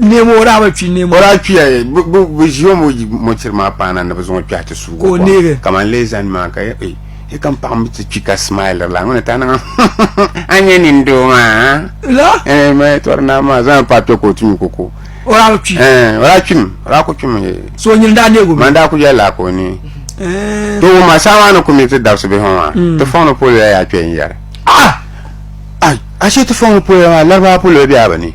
Neem o daa bi kpi neem. O daa kpiya bi ʒi o mɔchiri maa paana ni bi zaŋ o kpɛhi ti suugi o kom kamani lee zani maa ka e e kam paɣa mi ti kpi ka smile la ŋuni ta niŋ a nyɛ nin doo maa la ee ma tɔri naa maa zaŋ pa kpɛ ka o ti nyu koko o daa bi kpi o daa kpim o daa ku kpim so nyini daa neegu mi man daa ku yɛli ka o ni to o ma saa maa ni ku mi ti dabisi bihi maa ti fɔŋ ni polo ya yaa kpɛ n yɛri a a shee ti fɔŋ ni polo ya maa laribawa polo bɛ a bi ni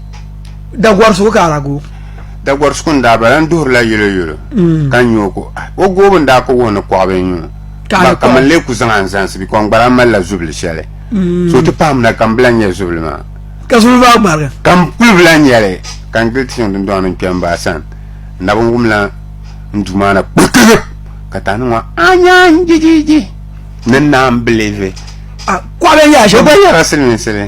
Dagwari suku ka ala gooi. Dagwari suku n daa bala n duhiri la yolo yolo mm. ka n o ko ah, o goobu n daa ka wuhi ni kɔɣiba n yuun ba ka man lee ku zaŋ a n zaŋsi bi kɔŋ gbara mali la zubili shɛli mm. so ti pahim na ka n bila nyɛ zubili maa ka zubili maa gbarigi ka n kuli bila nyɛli ka n gili tiŋ dundɔŋ ni n kpɛm baa sani n na bin wumla n duu maa na kpirikiri ka ta ni ŋɔ anya n jijiji ni naan bilivi ah, kɔɣiba n yaa shɛm o gba yɛra siliminsili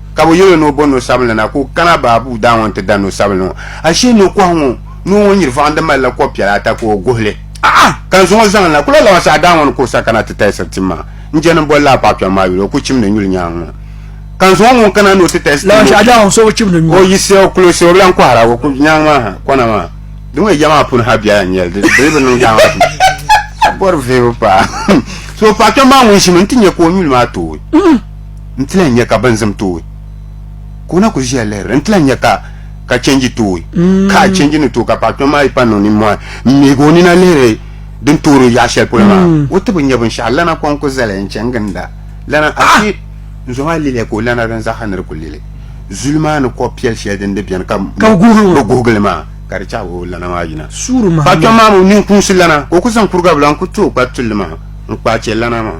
ka bɛ yɛl o ni o bo no sabinli na ka o kana baabu daa ŋɔ nti da no sabinli ŋɔ. Ashee no kɔhi ŋɔ noo ŋɔ nyir vɔɣindi malila kɔb piɛla ata ka o guhi li. A'a! Ka n zuŋɔ zaŋ n na. Ku lahi labaŋsi a daa ŋɔ ni ka o sa kana ti talisiri tim maa. N jɛndi n boli laa paɣ kpiɔŋ maa yuli o ku chimdi nyuli nyaaŋ ŋɔ. Ka n zuŋɔ ŋun kana ni o ti talisi tim ŋɔ ku chimdi. O yiɣisi ya o kulisi o bi lan kɔhira o ku nyaaŋ maa ha kɔna maa. Di ŋɔ ya maa puuni ha biɛla n-nyɛ li. Di dii bi niŋ daa maa puuni. Bɔri vihibu paa. So paɣ kpiɔŋ maa ŋun ʒimi nti nya ka o nyuli maa tooi. n ti lahi nya ka bini zim tooi ka o na kuli ʒiya lihiri n ti lahi nya ka ka chenji tooi ka a chenji ni tooi ka paɣa kpɛm maa yi pa niŋ nimmɔhi n miigi o nina lihiri din toori o yaɣa shɛli polo maa o ti bi nya binshɛɣu lana kɔŋ ku zali n chɛ n ginda lana afi n zo maa liliya ka o lana din zaɣa ni di ku lili zuli maa ni kɔb piɛli shɛli din di bɛni ka Ka bi guhigi o. bi guhigili maa ka di chahi o lana maa yina Suuri paɣa kpɛm Muhammad. maa mi o nini kuŋsi lana ka o ku zaŋ kuriga bila n ku ti o kpari tulli maa n kpaai chɛ lana maa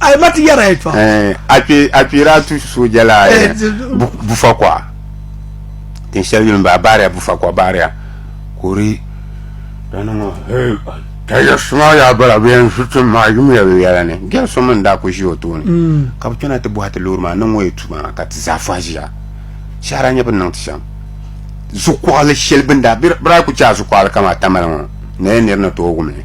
Ayi ma ti yɛra yi tɔɣa. Eh, a kpe a kpeera a tu sooja la eh, eh bu- bufa kɔɣa tin shɛli yuli m-baa baariya bufa kɔɣa baariya ka o di dana ŋɔ eh, taja suma yaa bala bɛ yɛn ʒi tim maa yumiya bɛ yɛla ni gɛri so mini daa ku ʒi o tooni ka bi chana ti bɔhi ti loori maa niŋ o yi tu maa ka ti zaa fɔhi ʒiya shɛhira nyɛ bin niŋ ti shɛm zukuɣili shɛli bin daa bira ku chɛ a zukuɣili kama tamali ŋɔ na yɛn niri ni tooi wum li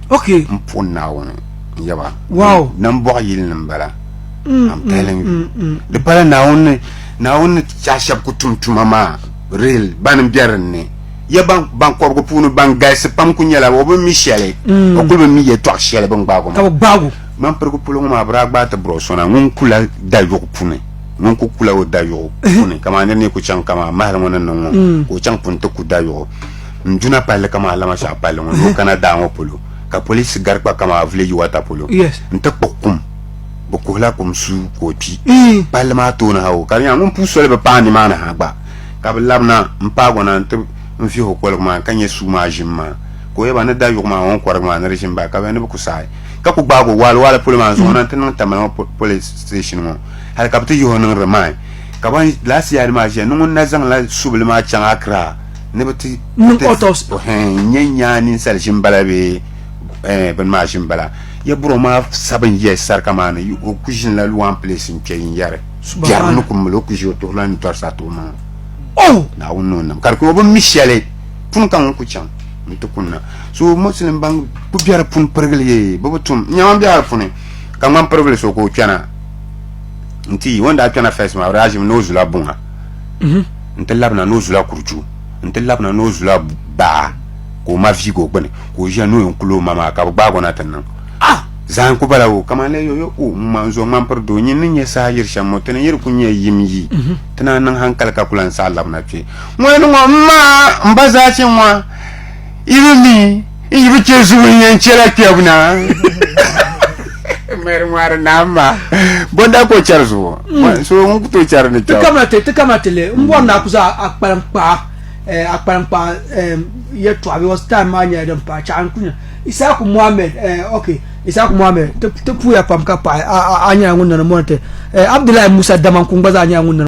Okay. M puhi Naawuni n yaba. Wow. Nam bɔɣi yili ni m bala. Mm, I'm telling mm, you. Mm, mm, mm. Di pala Naawuni ni Naawuni ni chahi shɛba ku tum tuma maa real bani n bɛ dinni. Ya ban ban kɔbigu puuni ban galisi pam ku nyɛla o bi mi shɛli mm. o kuli bi mi yɛtɔɣ shɛli bin gbaagu maa. Ka bi gbaagu. Man pirigu polo ŋɔ maa bi daa gbaai ti biri o sona ŋun kula dayuɣu puni ŋun ku kula o dayuɣu puni kamani nir ni ku chaŋ kamani mahali ŋɔ ni niŋ ŋɔ mm. ka o chaŋ puni ti ku dayuɣu n duna palli kama alama shɛɣu palli ŋɔ ni o kana daa ŋɔ polo ka polisi gari kpa kama vileji wata polo n ti kpuɣi kum bi kuhila kum su ka o kpi palli maa tooni ha o ka di nyɛla ŋun puu soli bi paai nimaani ha gba ka bi labina n paagi o na n ti n vihi o koligu maa ka nyɛ suu maa ʒim maa ka o yɛba ni da yuɣu maa ŋɔ n kɔrigi maa ni di ʒim baa ka bi ni bi ku saai ka ku gbaagi o waali waali polo maa n zaŋ o na n ti niŋ tamali ŋɔ polisi station ŋɔ hali ka bi ti yihi o niŋ rimain ka ban laasi yaadi maa ʒiya ni ŋun na zaŋla subili maa chaŋ Accra ni bi ti niŋ autopsy n nyɛ nyaa ninsali ʒin bala bee eh, bini maa ʒin bala ya buro maa sabin yɛ sarika maa ni o ku ʒin la one place n kpɛ yin yɛri biɛri ni ku mili o ku ʒi o tuhi la ni tɔri sa tuhi maŋa oh! naawuni ni o nam ka di ku o bi mi shɛli pun ka ŋun ku chaŋ n ti kunna so muslim ban ku biɛri pun pirigili ye bi bi tum n nyɛma biɛri puni ka ŋman pirigili so ka o kpɛna n ti yi o ni daa kpɛna fɛs maa o daa ʒimi ni o zula buŋa mhm. N ti labina ni o zula kurichu, n ti labina ni o zula baa ka o ma viigi o gbini, ka o ʒiya ni o yɛn kuli o ma maa ka bɛ gbaag o na ti niŋ. Ah! Zahim ku bala o, kaman lala yo-yo o ŋun ŋma n-zo ŋmani piri doo nyini ni nya saha yiri shɛm ŋɔ, ti ni yiri ku nya yim yi ti naan niŋ hankali ka ku lan saɣi labina kpe ŋɔ ni ŋɔ. M ma, m ba Zachi ŋɔ! Even me, n yi bi chɛ zubu n yɛn chɛla kpɛbu na. Mary ŋmari naam maa. Bɔn daa ka o chɛri zubu. Mm. So ŋun ku tooi chɛri ni kpɛbu. Ti kamina ti ti kamina ti le n bɔri ni a ku za a kpalim kpaɣa eh, a kpalim kpaɣa eh, yɛltɔɣa because time maa nyɛla din paai chaɣa n ku nya Isaaku Mohammed eh, ok Isaaku Mohammed ti ti puya pam ka paɣi a a a nyɛla ŋun nani mɔni ti eh, Abdullahi Musa Damanku gba zaa nyɛla ŋun nani